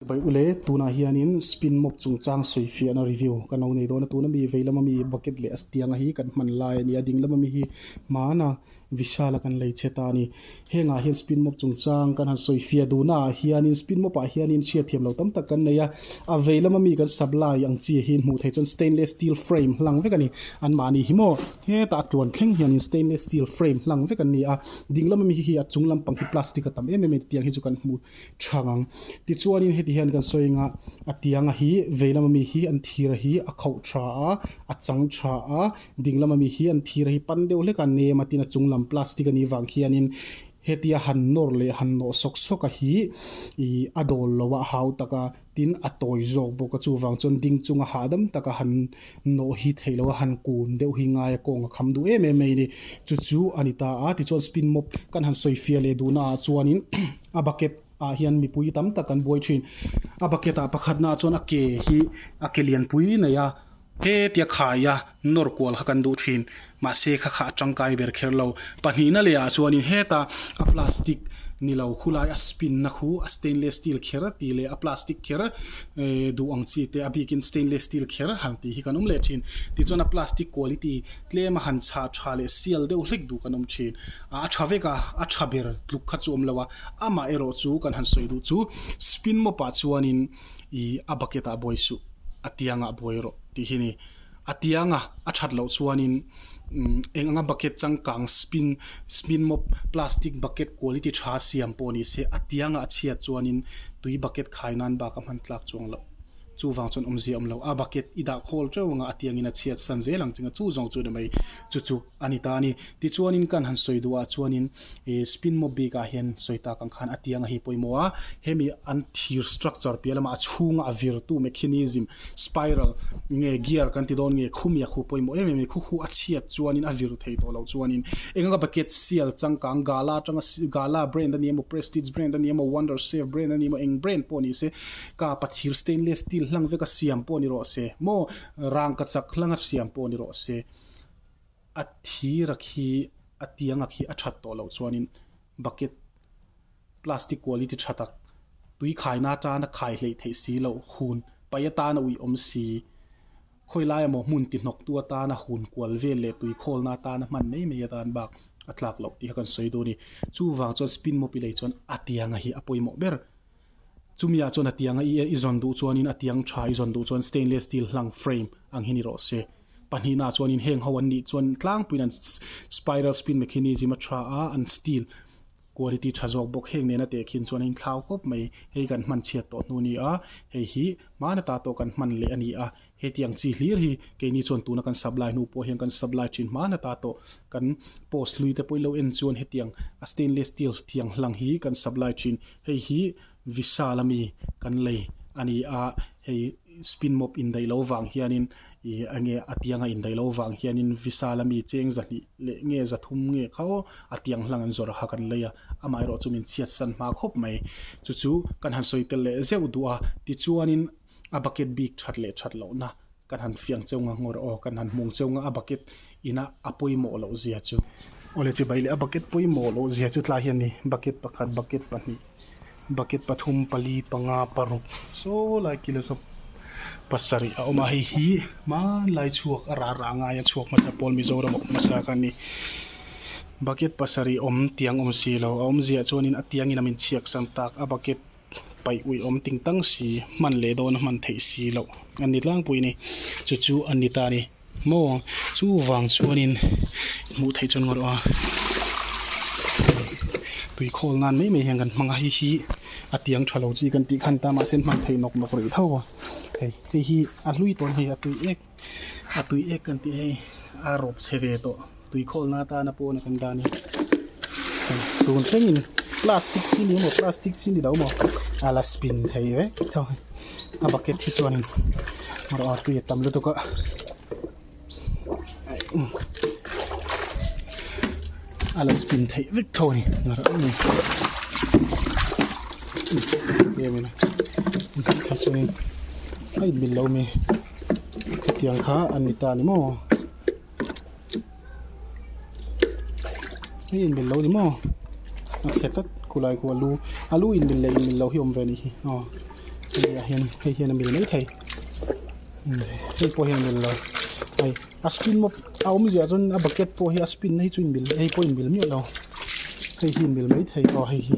Pawih u le, tunah hianin spin mop chungchang sawi fiahna review kan lo nei dawn a, tun a mi veilam a mi bucket leh a stiang a hi kan hman lai a ni a, ding lam a mi hi hmana Vishal a kan lei che ta a ni. Hengah hian spin mop chungchang kan han sawi fiah duhna ah hianin spin mop ah hianin hriat thiam lo tam tak kan nei a, a veilam a mi kan supply ang chi hi hmuh theih chuan stainless steel frame hlang vek a ni, anmah ni hi maw hetah a tluan thleng hianin stainless steel frame hlang vek an ni a, ding lam a mi hi a chung lampang hi plastic a tam em em a ni tih ang hi chu kan hmu tha ngang. Tichuanin heti hian kan sawi anga a tianga hi vei lama mi hi an thira hi a khauh tha a, a chang tha a, ding lama mi hi an thira hi pan deuh hleka nem a tin a chung lam plastic a nih vang khianin hetia han nawr leh han nawh sawk sawk a hi ih a dawl lo a, hau tak a. Tin, a tawi zawk bawk a, chuvang chuan ding chunga hahdam taka han nawh hi theih loh a, han kun deuh hi ngai a, kawng a kham duh em em mai ni. Chu chu a ni ta a. Tichuan, spin mop kan han sawi fia leh duhna ah chuanin a bucket ah hian mipui tam tak kan buai thin. A bucket ah pakhatna ah chuan a ke hi a ke lian pui mai a, He tia khai a, nawr kual kha kan duh thin. Mahse kha kha a tangkai ber kher lo. Pahnihna leh ah chuanin heta a plastic ni lo khu lai a spin na khu a stainless steel kher tih leh a plastic kher eeh duh ang chi te a bik in stainless steel kher han tih hi kan awm leh thin. Tichuan a plastic quality tlem a han chhah tha leh sial deuh hlek duh kan awm thin. A a tha vek a, a tha ber tluk kha chu awm lo a, amah erawh chu kan han sawi duh chu spin mop ah chuanin i a bucket ah buai suh a tiang ah buai rawh tih hi ni a tiang a a that loh chuan in eng anga bucket changkang spin spin mop plastic bucket quality tha siam pawh ni se a tiang ah a chhiat chuan in tui bucket khai nan bak a hman tlak chuang loh chu vang chuan awm zia awm lo a bucket i dah khawl teuh ang a a tiang in a chhiat san zel ang chin a chu zawng chu ni mai chu chu a ni ta a ni ti chuan in kan han sawi duh ah chuan in I spin maw bik ah hian sawi tak ang khan a tiang a hi pawimawh a, hemi an thir structure piah lamah a chhunga a vir tu mechanism, spiral, nge gear kan ti dawn nge khu miak hu pawimawh em em i khu khu a chhiat chuanin a vir thei tawh loh chuanin eng anga bucket sial changkang gala atanga gala brand a nih emaw prestige brand a nih emaw wonder safe brand a nih emaw eng brand pawh ni se kapa thir stainless steel hlang veka siam pawh ni rawh se maw rangkachak hlanga siam pawh ni rawh se A thira khi a tianga khi a that tawh loh chuanin bucket plastic quality tha tak, tui khaina atana khai hleih theih si lo, hun paih atana uih awm si, khawilaia maw hmun tihnawktu atana hun kual vel leh tui khawlna atana hman mai mai atan bak a tlak loh tih kha kan sawi dawn a ni. Chuvang chuan spin mop i lei chuan a tianga hi a pawimawh ber. Chumi ah chuan a tianga i i zawn duh chuan in a tiang tha i zawn duh chuan stainless steel hlang frame ang hi ni rawh se. Pahnih na chuan in heng ho an nih chuan tlang pui in an spiral spin mechanism a tha a, an steel quality tha zawk bawk heng nen a teh khin chuan a in thlau khawp mai. Hei kan hman chhiat tawh hnu nia hei hi hmana ta tawh kan hman leh a ni a. Hetiang chi hlir hi keini chuan tuna kan sub lai hnu pawh hian kan sub lai thin hman ata tawh kan post hlui te pawh i lo en chuan hetiang a stainless steel thiang hlang hi kan sub lai thin. Hei hi Visa la mi kan lei a ni a, hei spin mop indaih loh vang hianin ih enge a tianga indaih loh vang hianin Visa la mi cheng zahnih leh nge za thum nge kha aw a tiang hlang an zawrh a kha kan lei a, amaherawhchu min chhiatsan hma khawp mai. Chu chu kan han sawi tel leh zeuh duh a, tichuanin. a bucket bik that leh that loh na kan han fiang cheu ngha ngawr aw kan han hmung cheu ngha a bucket ina a pawimawh loh zia chu awle chibai leh a bucket pawimawh loh zia chu tlai hian ni bucket pakhat bucket pahnih bucket pathum pali panga paruk saw lai kila zawk pasarih a awm a hei hi hmanlai chhuak a rarah a ngai a chhuak hmasa pawl mizoram awm hmasa kha ni bucket pasarih awm tiang awm si lo a awm ziah chuan in a tiang in a min chhiaksam tak a bucket -- paih ui awm ting tang si, hman leh dawna hman theih si loh a ni tlangpui a ni. Chu chu a ni ta a ni maw? Chu vang chuanin hmuh theih chuan ngaw rawh a, tui khawl nan mai mai hian kan hmang a, hei hi a tiang tha lo chi kan tih khan ta mahse hman theih nawk nawk rih tho a, hei hei hi a hlui tawn hei a tui ek. a tui ek kan tih hei a rawp chhe ve tawh tui khawl na atana pawh a kan dan hi tun thlengin plastic chhi ni maw plastic chhi ni lo maw a la spin thei vek tho hi a bucket hi chuanin ruah a tui a tam lutuk a a la spin thei vek tho a ni em emaw hei chuanin a inbel lo mai. hetiang kha an ni ta ni maw hei inbel lo ni maw a chhe tlat kulai ku a lu a lu inbel leh inbel lo hi awm ve a nih hi aw hei ah hian hei hian a mil mai thei hei pawh hi a mil lo hei a spin bawk a awm ziah chuan a bucket pawh hi a spin na hi chu inbel hei pawh inbel miah lo hei hi inbel mai thei aw hei hi.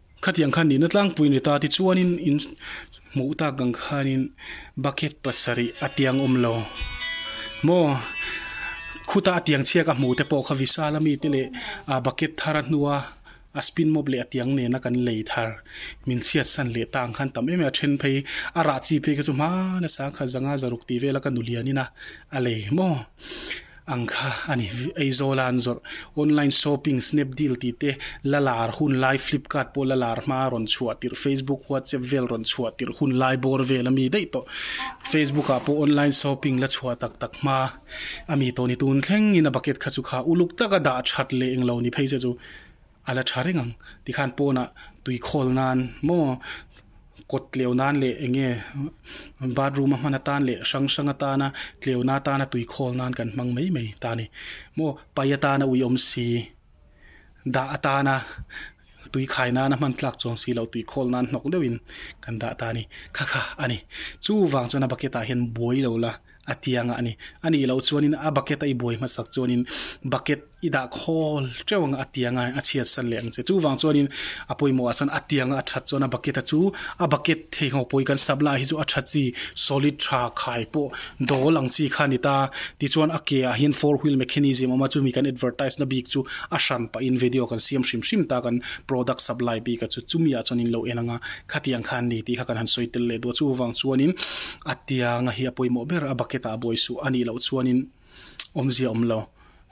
Khatiang khan nihna tlangpuiin ri ta tichuanin in hmuh tak ang khanin bucket pasarih a tiang awm lo maw? Khuta a tiang chhiak a hmuh te pawh kha visal a mite leh a bucket thar a hnua a spin mawp leh a tiang nena kan lei thar min chhiatsan leh ta ang khan tam em em a then phei a rah chi phei kha chu hmana sang kha zanga zaruk tih vela ka nulian ina a lei maw? Ang kha a ni Aizawla an zawrh Online shopping Snapdeal tih te la lar hun lai Flipkart pawh la lar hma rawn chhuah tirh Facebook WhatsApp vel rawn chhuah tirh hun lai bawr vel a mi daih tawh Facebook ah pawh Online shopping la chhuah tak tak hma a mi tawh ni tun thlengin a bucket kha chu kha uluk taka dah that leh englo ni phei che chu A la tha reng ang tikhan pawnah tui khawl nan maw, kawt tleu nan leh eng nge bathroom a hman atan leh hrang hrang atana tleuna atana tui khawl nan kan hmang mai mai ta ni. Maw pai atana ui awm si, dah atana tui khai nan a hman tlak chuang si lo tui khawl nan hnawk deuhin kan dah ta ni. Kha kha a ni. Chuvang chuan a bucket ah hian buai lo la. a ti ang a ni. A nih loh chuanin a bucket a i buai hmasak chuanin bucket i dah khawl teuh ang a ti ang a, a chhiatsan leh ang che. Chuvang chuanin a pawimawh ah chuan a ti ang a, a that chuan a bucket a chu a bucket thei nghawk pawi kan sap lai hi chu a tha chi solid tha khai pawh dawl ang chi kha a ni ta. Tichuan a ke ah hian four wheel mechanism a awm a, chumi kan advertise na bik chu a hran pah in video kan siam hrim hrim ta kan product sap lai bik a chu chumi ah chuan in lo en ang a, khatiang khan ni tih kha kan han sawi tel leh duh a. Chuvang chuanin a tianga hi a pawimawh ber a bucket ah a buai suh anih loh chuanin awmzia a awm lo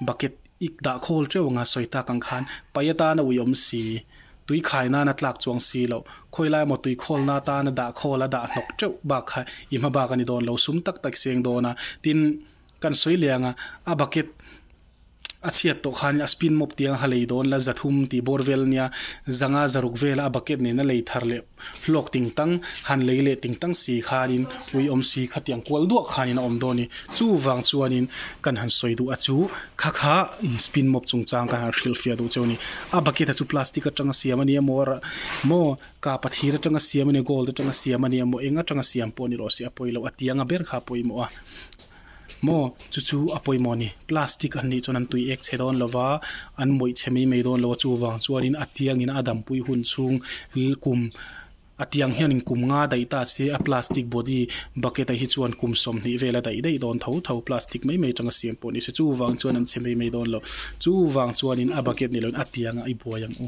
bucket i dah khawl teuh anga sawi tak ang khan paih atana ui awm si tui khai nana tlak chuang si loh khawilai maw tui khawlna atana dah khawl a dah hnawk teuh bak kha i hma bak a ni dawn lo sum tak tak seng dawn a tin kan sawi leh ang a a bucket-- A chhiat tawh khanin a spin mop tiang a ha lei dawn la, za thum tih bawr vel nia, zanga za ruk vela a bucket nen a lei thar leh hlawk ting tang, han lei leh ting tang si khanin ui awm si kha tiang kual duak khanin a awm dawn ni. Chuvang chuanin kan han sawi duh a chu kha kha spin mop chungchang kan han hrilh fiah duh cheu a ni. A bucket a chu plastic atanga siam a ni a maw, maw kapa thir atanga siam a ni, gold atanga siam a ni a maw, eng atanga siam pawh a ni rawh si a pawi lo, a tianga ber kha a pawimawh a. Maw, chu chu a pawimawh ni. Plastic an nih chuan an tui ek che dawn lo va, an mawih che mai mai dawn lo a. Chuvang chuanin a tiangin a dampui hun chhung kum a tiang hianin kum nga daih ta se a plastic body bucket-a hi chuan kum sawmhnih vela daih daih dawn tho tho. Plastic mai mai atanga siam pawh ni se. Chuvang chuan an che mai mai dawn lo. Chuvang chuanin a bucket nih loin a tianga i buai ang u.